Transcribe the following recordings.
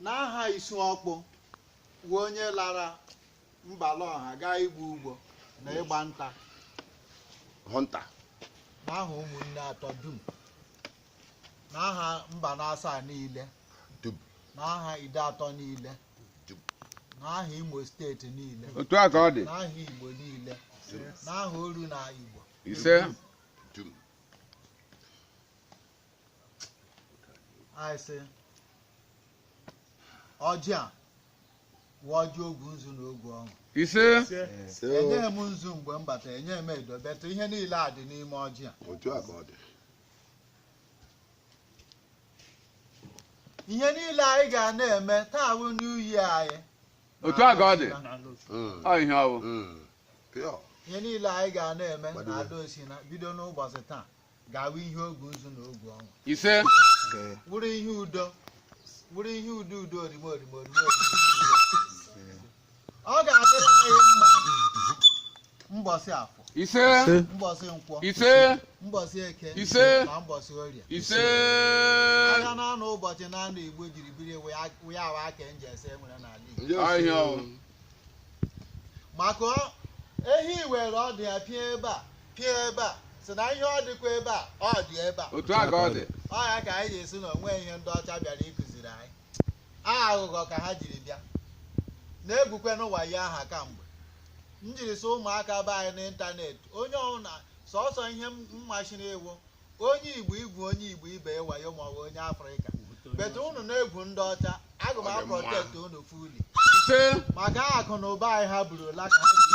n'aha isu ọkpụ wụ onye lara mbala ọha gaa igbu ugbo na ịgba nta hunter n'aha ụmụnne atọ dum n'aha mbanasaa niile dum n'aha ideatọ niile dum n'aha imo steeti niile otu a ka ọ dị n'aha igbo niile n'aha oru na igbo ise dum anyị sị ọjị a wụ ọjị ogwu nzu na ogwu ọṅụ ise enyeghị m nzu mgbe m bata enyeghị m edo but ihe niile a dị n'ime ọjị a otu a ka ọ dị ihe niile anyị ga na-eme taa bụ new year anyị otu a ka ọ dị ọ ihe ọ wụ Pure. ihe niile anyị ga na-eme na ada osina bido n'ụbọchị taa ga-awụ ihe ogu nzu na ogu ọṅụ ise wụrụ ihe udo wụrụ ihe udo udo orime orime orime orime ọ ga-adịrị anyị mma mbọsị afọ ise mbọsị nkwọ ise mbọsị eke ise na mbọsị orie ise ahịa na anọ ụbọchị na anọ igbo jiri biri wee awa aka nje ese nwere n'ala igbo maka ehi were ọdụ ya pịa ebe a pịa ebe a sị na ihe ọ dịkwa ebe a ọ dị ebe a otu a ka ọ dị ọ ya ka anyị ji sị na o nweghị ihe ndị ọcha bịara ịkụziri anyị aha aghụghọ ka ha jiri bịa na-egwukwenụ wayo aha kamgbe m jiri sị ụmụaka be anyị n'ịntanetị onye ọbụla sọsọ ihe m machiri iwu onye igbo igwu onye igbo ibe wayo maọbụ onye afrịka but unu na-egwu ndị ọcha aga m aprotect unu fully maka akụ na ụba anyị ha burula ka ha ji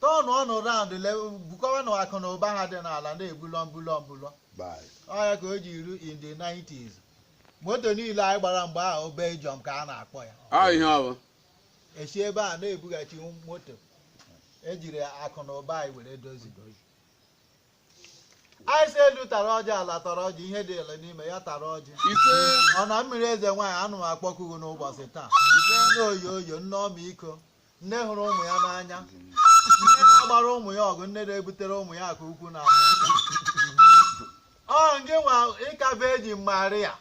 turn around bukọwanụ akụ na ụba ha dị n'ala na-ebulọ mbulọ mbulọ ọ ya ka o ji eru in the 90s moto niile anyị gbara mgbe ahụ Belgium ka a na-akpọ ya Ọ ihe ọ bụ. e si ebe a na-ebughachi moto e jiri akụ na ụba anyị were dozi anyị sị elu tara ọjị ala tara ọjị ihe dị ele n'ime ya tara ọjị Ise. ọ na mmiri eze nwaanyị ana m akpọku gị n'ụbọchị taa nne oyoyo nne ọmịiko nne hụrụ ụmụ ya n'anya nne na-agbara ụmụ ya ọgụ nne na-ebutere ụmụ ya aka ukwu na ọ ngị nwa ị ka virgin maria